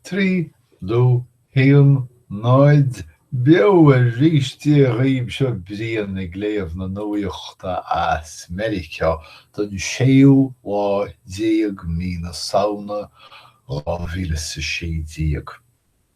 3 2 1 0 beo arís Dia dhaoibh Seo Brian ag léamh na nuaíochta as Meiriceá don séú lá déag mí na Samhna, dhá mhíle is a sé déag.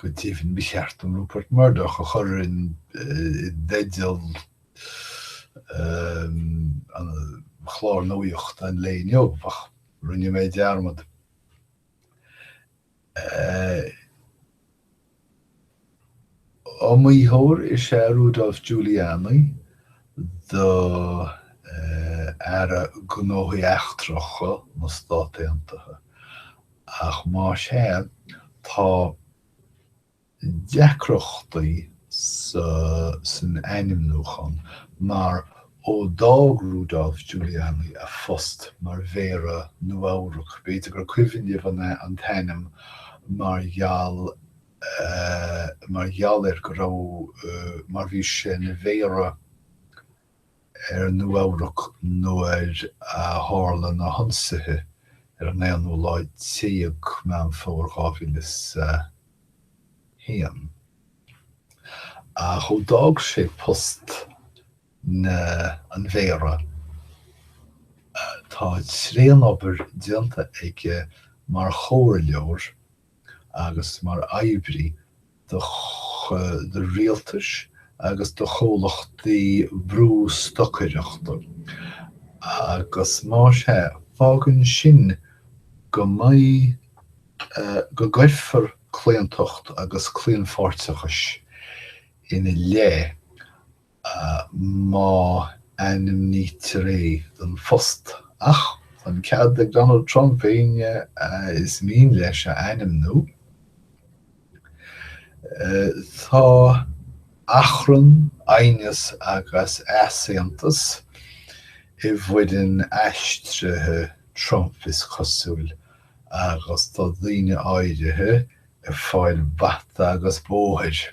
Go dtí an bhean, ba cheart dom Rupert Murdoch a chur i dteideal an chláir nuachta an lae inniu, óbach rinne mé dearmad. Iomaítheoir is ea Rudolph Giuliani do e Aire Gnóthaí Eachtracha na Stát Aontaithe, ach más é, tá deacrachtaí san ainmniúchán, mar ó d'fhág Rudolph Giuliani a phost mar Mhéara Nua-Eabhrac, b'fhéidir gur cuimhin libh an t-ainm mar gheall mar gheall ar go raibh mar bhí sé ina mhéara ar Nua-Eabhrac nuair a tharla na hionsaithe ar an aonú lá déag Meán Fómhair 2001. Ach ó d'fhág sé post na an mhéara, tá tréan obair déanta aige mar chomhairleoir, agus mar oibrí do do rialtais agus do chomhlachtaí brústocaireachta, agus más é, fágann sin go mbeidh, go gcuirfear claontacht agus claonpháirteachais ina leith má ainmnítear é don phost. Ach tá an cead ag Donald Trump éinne is mian leis a ainmniú. Tá achrann, aighneas agus easaontas i bhfoireann aistrithe Trump, is cosúil, agus tá daoine áirithe ag fáil bata agus bóthair.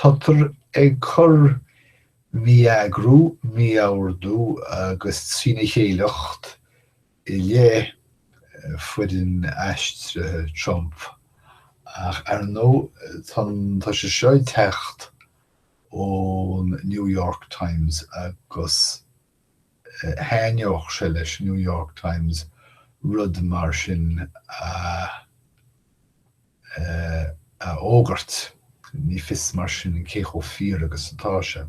Táthar ag cur mí-eagar, mí-ordú agus trína chéileacht i leith foireann aistrithe Trump, ach ar ndóigh tá sé seo ag teacht ón New York Times agus thaitneodh sé leis an New York Times rud mar sin a fhógairt. Ní fios mar sin cé chomh fíor agus atá sé.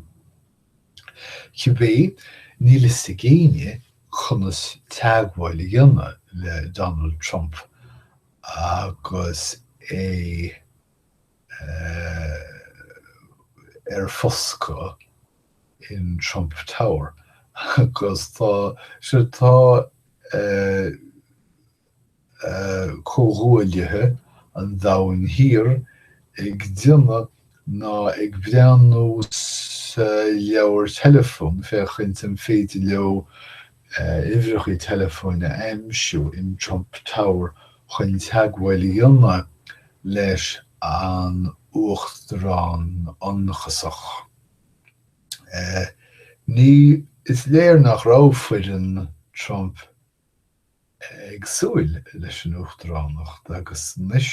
Cibé, níl a fhios ag éinne conas teagmháil a dhéanamh le Donald Trump agus é ar foscadh. in Trump Tower agus tá sé tá comhghuaillithe an Domhain Thiar ag déanamh nó ag breathnú sa leabhar teileafón féachaint an féidir leo uimhreacha teileafóin a aimsiú in Trump Tower chun teagmháil a dhéanamh leis an uachtarán ionchasach. Is léir nach raibh foireann Trump ag súil leis an uachtaránacht agus anois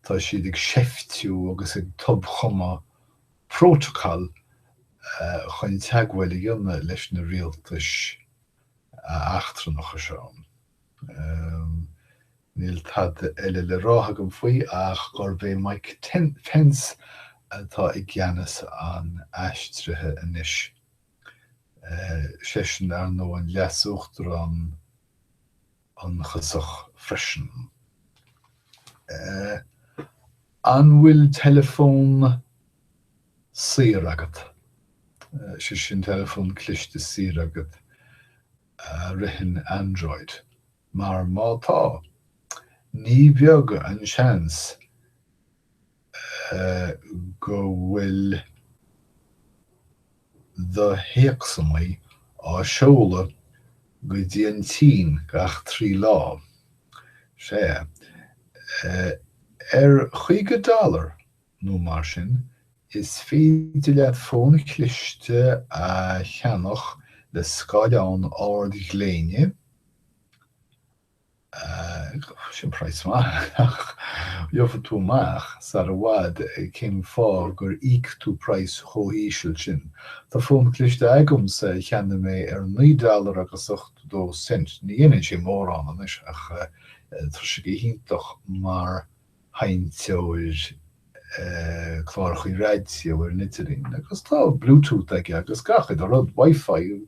tá siad ag seiftiú agus ag tobchumadh prótacal chun teagmháil a dhéanamh leis na rialtais eachtrannacha seo. Ehm. Níl tada eile le rá agam faoi ach gurb é Mike Pence atá i gceannas an aistrithe anois. Eh. seisean, ar ndóigh, an leasuachtarán ionchasach freisin. Eh. an bhfuil teileafón saor agat? sé sin, teileafón cliste saor agat? a ritheann Android, mar má tá, ní beag an seans go bhfuil do théacsanna á seoladh go dtí an tSín gach trí lá. Sea, ar caoga dollar nó mar sin, is féidir leat fón cliste a cheannach le scáileán ardghléine, sin price maith, ach gheobhaidh tú amach sar i bhfad cén fáth gur íoc tú price chomh híseal sin. Tá fón cliste agamsa a cheannaigh mé ar naoi dollar agus ochtó a dó cent, ní dhéanann sé mórán anois ach tá sé go hiontach mar sheinnteoir clárachaí raidió ar an idirlíon agus tá Bluetooth aige agus gach uile rud, Wifi,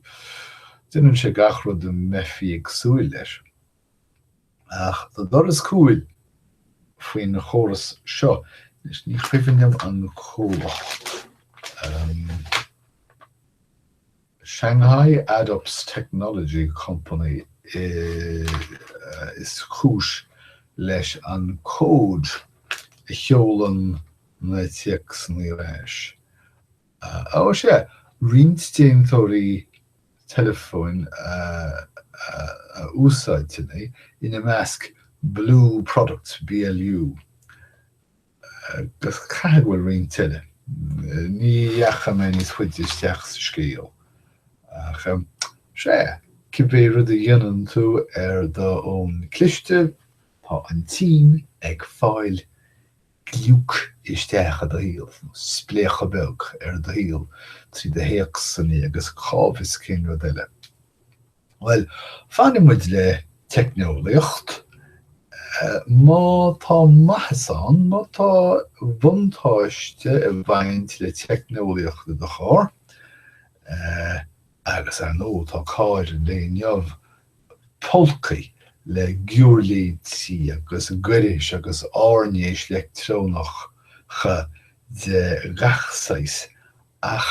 déanann sé gach rud a mbeifí ag súil leis. Ach tá doras cúil faoina chóras seo, anois ní cuimhin liom an comhlacht. Shanghai Adups Technology Company is cúis leis an cód a sheolann na téacsanna ar ais. Ó, sea, roinnt déantóirí teileafóin a úsáideann é, ina measc Blu Products, BLU. Agus caithfidh go bhfuil roinnt eile. Ní dheachaigh mé níos faide isteach sa scéal. Ach, sea, cibé rud a dhéanann tú ar do fhón cliste, tá an tSín ag fáil gliúc isteach i do shaol, nó spléachadh beag ar do shaol trí do théacsanna agus cá bhfios cén rud eile. Bhuel, fanfaidh muid le teicneolaíocht. Má tá maitheas ann, má tá buntáiste ag baint le teicneolaíocht i do charr, agus ar ndóigh tá cairr an lae inniu pulcthaí le giúirléidí agus gairis agus áirnéis leictreonacha de gach saghas, ach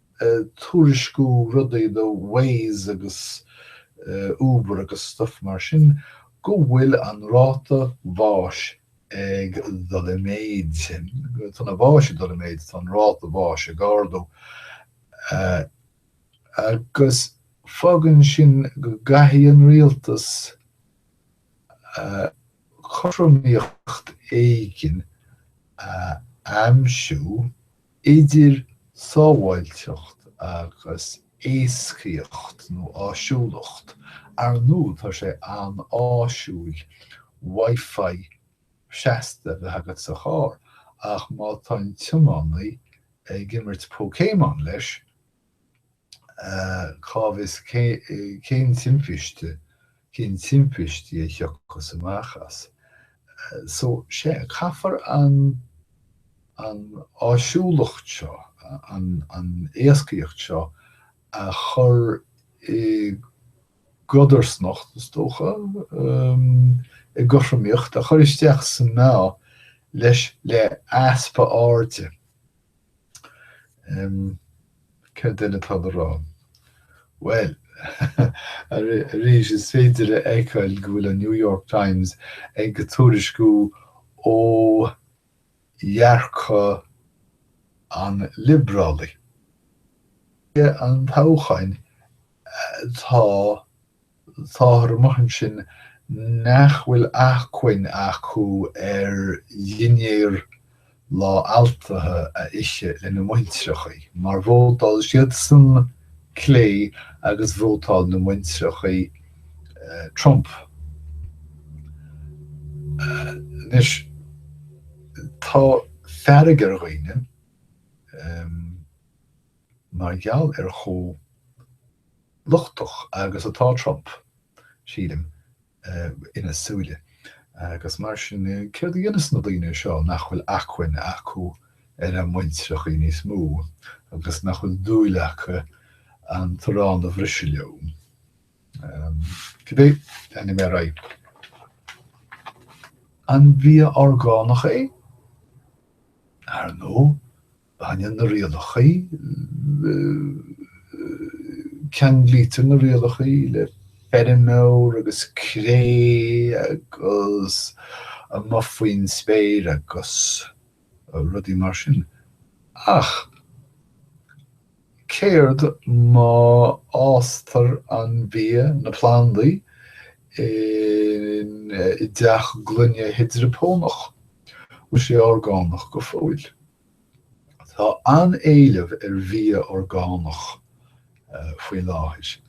tuairisciú rudaí do Waze agus Uber agus stuff mar sin, go bhfuil an ráta bháis ag dul i méid. Tá na báis ag dul i méid, tá an ráta bháis ag ardú. Agus fágann sin go gcaithfidh an rialtas cothromaíocht éigin a aimsiú. idir sábháilteacht agus éascaíocht nó áisiúlacht. Ar ndóigh, tá sé an-áisiúil Wi-Fi seasta a bheith agat sa charr, ach má tá an tiománaí ag imirt Pokémon leis, Cá bhfios cén timpiste, cén timpistí a thiocfas amach as so. Sea, caithfear an an áisiúlacht seo, an éascaíocht seo a chur i gcodarsnacht, is dócha, i gcothromaíocht, a chur isteach sa meá leis le easpa airde. Céard eile atá le rá? Bhuel, arís, is féidir a fheiceáil go bhfuil an New York Times ag ag tuairisciú ó dhearcadh an liobrálaigh. An toghchán, tá Táthar amuigh ansin nach bhfuil achmhainn acu ar dhinnéar lá altaithe a ithe lena muintireachaí, mar vótáil siadsan clé agus vótáil na muintireachaí Trump. Anois, tá fearg ar dhaoine mar gheall ar chomh lochtach agus atá Trump, sílim, ina súile. Agus mar sin, céard a dhéanfas na daoine seo nach bhfuil achmhainn acu ar a muintireachaí níos mó, agus nach bhfuil dúil acu an t-arán a bhriseadh leo? Cibé, leanfaidh mé ar aghaidh. An bia orgánach é? Ar ndóigh. Baineann na rialachaí ceanglaítear na rialachaí le feirmeoir agus cré agus amuigh faoin spéir agus rudaí mar sin ach céard má fhástar an bia, na plandaí, i dteach gloine hidreaponach? Bhfuil sé orgánach go fóill? Tá an-éileamh ar bhia orgánach faoi láthair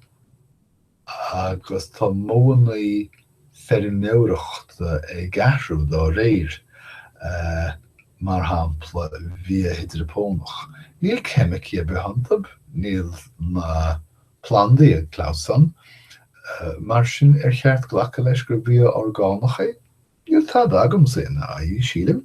agus tá modhanna feirmeoireachta ag athrú dá réir, mar shampla bia hidreaponach. Níl ceimicí ar bith iontu, níl na plandaí ag clamhsán, mar sin ar cheart glacadh leis gur bia orgánach é? Níl tada agamsa ina aghaidh, sílim.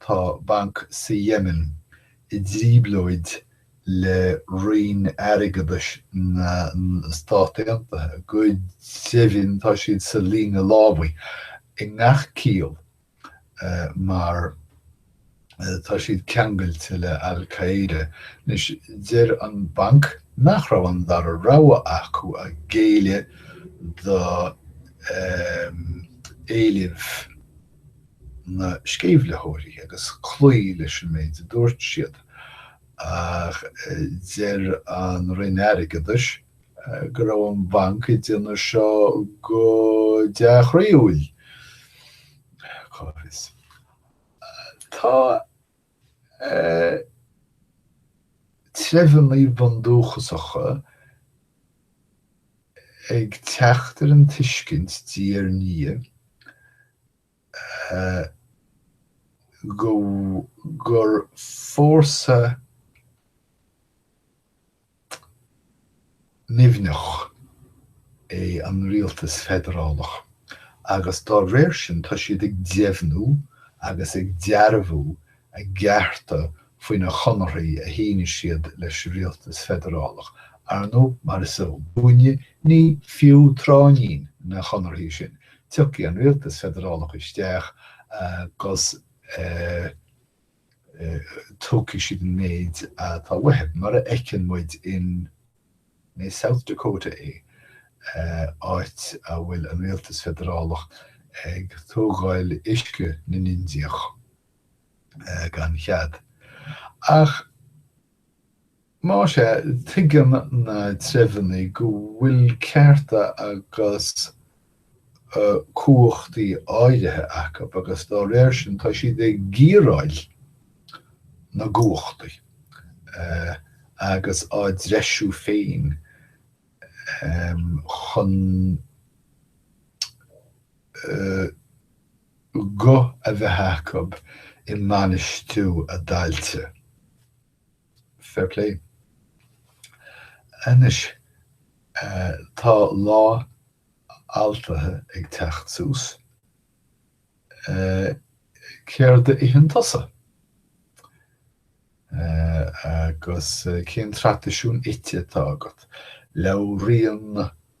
Tá banc sa Yemen i dtrioblóid le Roinn Airgeadais na Stát Aontaithe. Go deimhin tá siad sa líne lámhaigh i ngach ciall mar tá siad ceangailte le Al Qaeda. Anois deir an banc nach raibh an dara rogha acu ach géilleadh do éilimh. na sceimhlitheoirí agus cloí leis an méid a dúirt siad, ach deir an Roinn Airgeadais go raibh an banc ag déanamh seo go dea-chroíúil. Cá bhfios. Tá treibheanna bundúchasacha ag teacht ar an tuiscint diaidh ar ndiaidh go, gur fórsa nimhneach é an rialtas feidearálach agus dá réir sin tá siad ag deimhniú agus ag dearbhú a gcearta faoi na conarthaí a shínigh siad leis an rialtas feidearálach, ar ndóigh mar is eol dúinne ní fiú tráithnín na conarthaí sin, tiocfaidh an rialtas feidearálach isteach agus tógfaidh siad an méid atá uathu, mar a fheiceann muid in South Dakota é, áit a bhfuil an rialtas feidearálach ag tógáil uisce na nIndiach. gan chead. Ach más ea, tuigeann na treibheanna go bhfuil cearta agus cumhachtaí áirithe acu agus dá réir sin tá siad ag giaráil na gcumhachtaí agus á dtreisiú féin chun guth a bheith acu i mbainistiú a dtailte. Fair play. Anois, tá Lá Altaithe ag teacht suas. Céard a itheann tusa? Agus cén traidisiún ite atá agat? Labhraíonn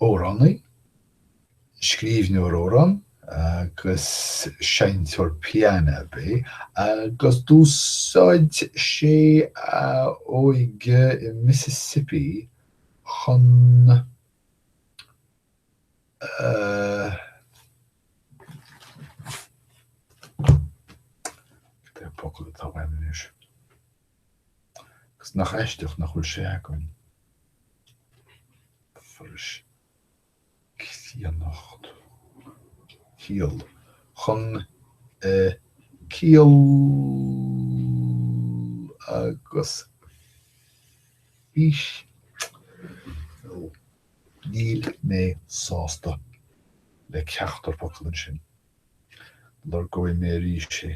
Amhránaí, scríbhneoir amhrán agus seinnteoir piano ab é agus d'úsáid sé a óige i Mississippi chun a Agus nach aisteach nach bhfuil sé againn? Forais críonnacht ciall chun ciall agus fís nó níl mé sásta le ceachtar focal ansin. Lorgóidh mé arís é.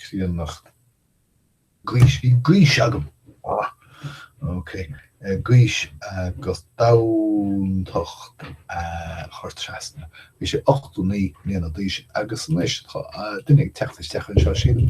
críonnacht gaois bhí gaois agam! ah ok gaois agat domhantacht a chur trasna bhí sé ochtó naoi mbliana d'aois agus anois tá duine ag teacht isteach anseo sílim.